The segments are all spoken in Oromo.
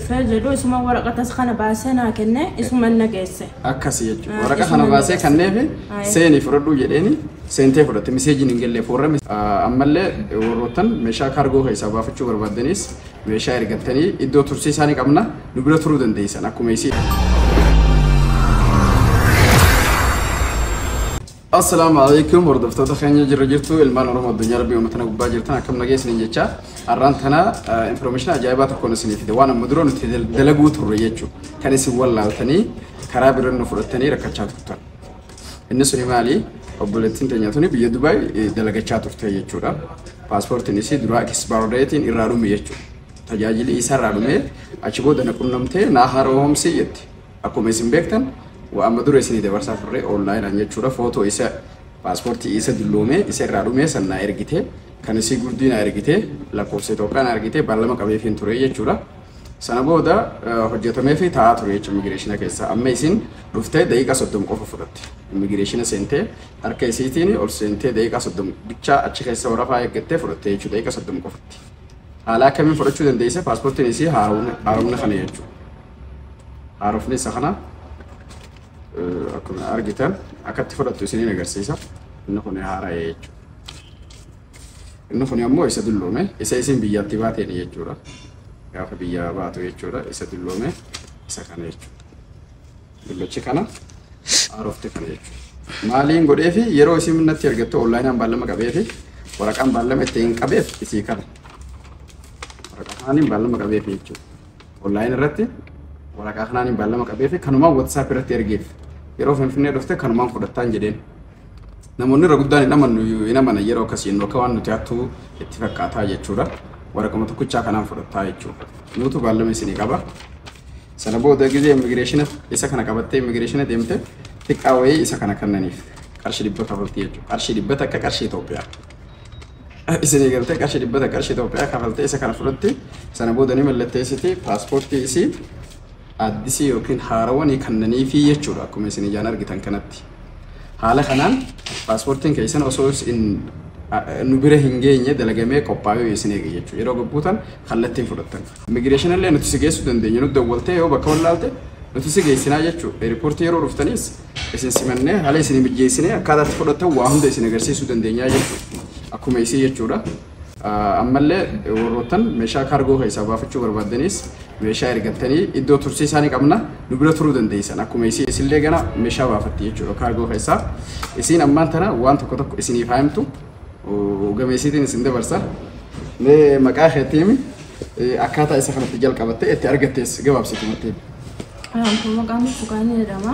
dhufee jedhu isuma waraqatas kana baasee naa kenne isuman na geesse. Akkasi jechuudha. Ah, Waraqa kana isuman na baasee geesse. kanneefi Aye. seenii fudhadhuu jedheeni seentee fudhatte miseejiin hin galleef warra mis- Ah, ammallee warroottan meeshaa kaargoo keessaa baafachuu barbaaddanis meeshaa ergattanii iddoo tursiisaa ni qabna nu bira turuu dandeessan akkuma isii. Assalaamu alaikum hordoftoota keenya jirra jirtu ilmaan Oromoo addunyaa rabbii uummata na gubbaa jirtan akkam nagee isiniin jechaa har'aan tana infoormeeshinii ajaa'ibaa tokkoon isinii fide waan amma dura nuti dal- dalaguu turre jechuu kan isin wallaaltanii karaa biraan nu fudhattanii rakkachaa turtan. Inni suni maali? Obboleettiin teenya tuni biyya Dubaay eh, dalagachaa turte jechuudha. Paaspoortiin isii duraa ekispaardeetiin irraa dhume jechuudha. Tajaajili isaa irraa dhumee achi booda na qunnamtee naa haaromsii jetti. Akkuma isin beektan waa amma dura isinii dabarsaa turre online an jechuudha footoo isa paaspoortii isa dulloomee isa irraa dhumee san naa ergitee kan isii gurdii naa ergitee lakkoofsa Itoophiyaa naa ergitee baallama qabeefiin ture jechuudha. Sana booda eh, hojjetamee fi taa'aa ture jechuudha immigireeshina keessa. Amma isin dhuftee daqiiqaa soddom qofa fudhatte. Immigireeshina seentee harka isiitiin ol seentee daqiiqaa soddom bichaa achi keessa warafaa eeggattee fudhatte jechuudha daqiiqaa soddom qofatti. Haala akkamiin fudhachuu dandeesse paaspoortiin isii haaromna haaromna kana jechuudha. haarofni isa kana akkuma argitan akkatti fudhattu isiniin agarsiisa inni kun haara'ee jechuudha. Inni kun ammoo isa dulloome isa isin biyyatti baateen jechuudha. Gaafa biyyaa baatu jechuudha isa dulloome isa kana jechuudha. Dullachi kana haarofte kana jechuudha. Maaliin godhee fi yeroo isin natti argattu onlaayinaan baallama qabee fi waraqaan baallama ittiin qabeef isii kana. Waraqaan baallama qabeef jechuudha. Online irratti waraqaa kanaan baallama qabee fi kanumaan WhatsApp irratti ergeef. Yeroo Finfinnee dhufte kanumaan fudhattaan jedheen. Namoonni irra guddaan hin amannu hin amanan yeroo akkasii inni akka waan nuti hattuu itti fakkaataa jechuudha. Waraquma tokkichaa kanaan fudhattaa jechuudha. Nuutu baallama isinii qaba. Sana booda gizee immigireeshina isa kana qabattee immigireeshina deemte xiqqaa wayii isa kana kannaniif qarshii dhibba kafaltii jechuudha. Qarshii dhibba takka qarshii Itoophiyaa. isinii galtee qarshii dhibba takka qarshii Itoophiyaa kafaltee isa kana fudhatti sana booda ni mallatteessiti paaspoortii isii addisii yookiin haarawa ni kannaniifii jechuudha akkuma isin ijaan argitan kanatti. Haala kanaan paaspoortiin keessan osoo isin nu bira hin geenye dalagamee qophaa'ee isin eege jechuudha. Yeroo gabbuutan kallattiin fudhattan. Immigireeshin illee nuti si geessuu dandeenya. Nu dawwaltee yoo bakka wallaalte nuti si geessinaa jechuudha. Eerpoortii yeroo dhuftaniis isin simannee haala isin mijeessinee akkaataa itti fudhattan waa hunda isin agarsiisuu dandeenyaa jechuudha. Akkuma isii jechuudha. Ammallee warroottan meeshaa kaargoo keessaa baafachuu barbaaddanis meeshaa ergattanii iddoo tursiisaa ni qabna nu bira turuu dandeessan. Akkuma isii isillee gana meeshaa baafatti jechuudha kaargoo keessaa. Isiin ammaan tana waan tokko tokko isiniif haa himtu gameessiitiin isin dabarsa. Mee maqaa keetti himi akkaataa isa kanatti jalqabatte itti argattees gabaabsiitumatti himi. Anamtu maqaan burtukaan jedhama.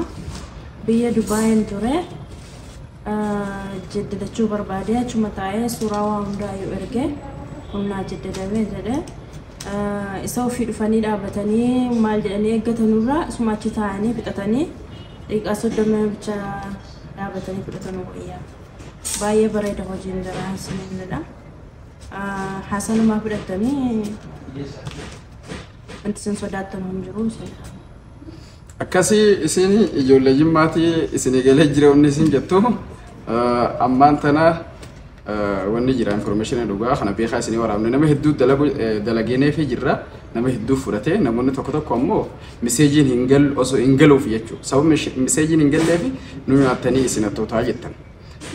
Biyya Dubaayin ture. Jaddadachuu barbaadee achuma taa'ee suuraa waa hundaayyuu erge humnaa jaddadamee jedhe. Isa ofii dhufanii dhaabatanii maal jedhanii eeggatanurraa isuma achi taa'anii fixatanii daqiiqaa soddoma bicha dhaabatanii fudhatanu wayyaa. Baay'ee bareeda hojiin jaraa isiniin jedha. Haasanumaa fudhattanii Wanti isin sodaattan hin jiru isin. Akkasi isin ijoollee jimmaatii isin eegalee jira wanni isin jettu eh, ammaan tana eh, wanni jira information dhugaa kana beekaa isin waraabne nama hedduu dalagu eh, dalageenee fi jirra nama hedduu fudhate namoonni tokko tokko ammoo miseejiin hin gal osoo hin galuuf jechuudha sababni ishi- miseejiin hin galleef nu nyaattanii isin hattootaa jettan.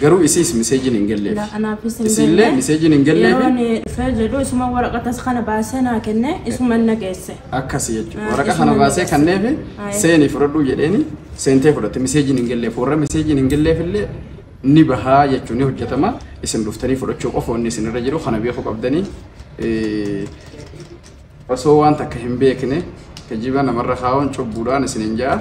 Garuu isiis miseejiin hin galleef. La anaafis hin Isiillee galle. miseejiin hin Yeroo galleefi ani dhufee jedhu isuma waraqatas kana baasee naa kenne isuma na geesse. akkasi jechuudha. Ah, Waraqa isuma kana ni baasee gassa. kanneefi Ah, eh. seenii fudhadhuu jedheeni seentee fudhatte miseejiin hin galleef. Warra miseejiin hin galleef illee ni bahaa jechuun ni hojjetama. Isin dhuftanii fudhachuu qofa wanni isin irra jiru kana beekuu qabdanii. Eh, Osoo waan takka hin beekne kijiba namarra kaa'uun cubbuudhaan isin hin ja'a.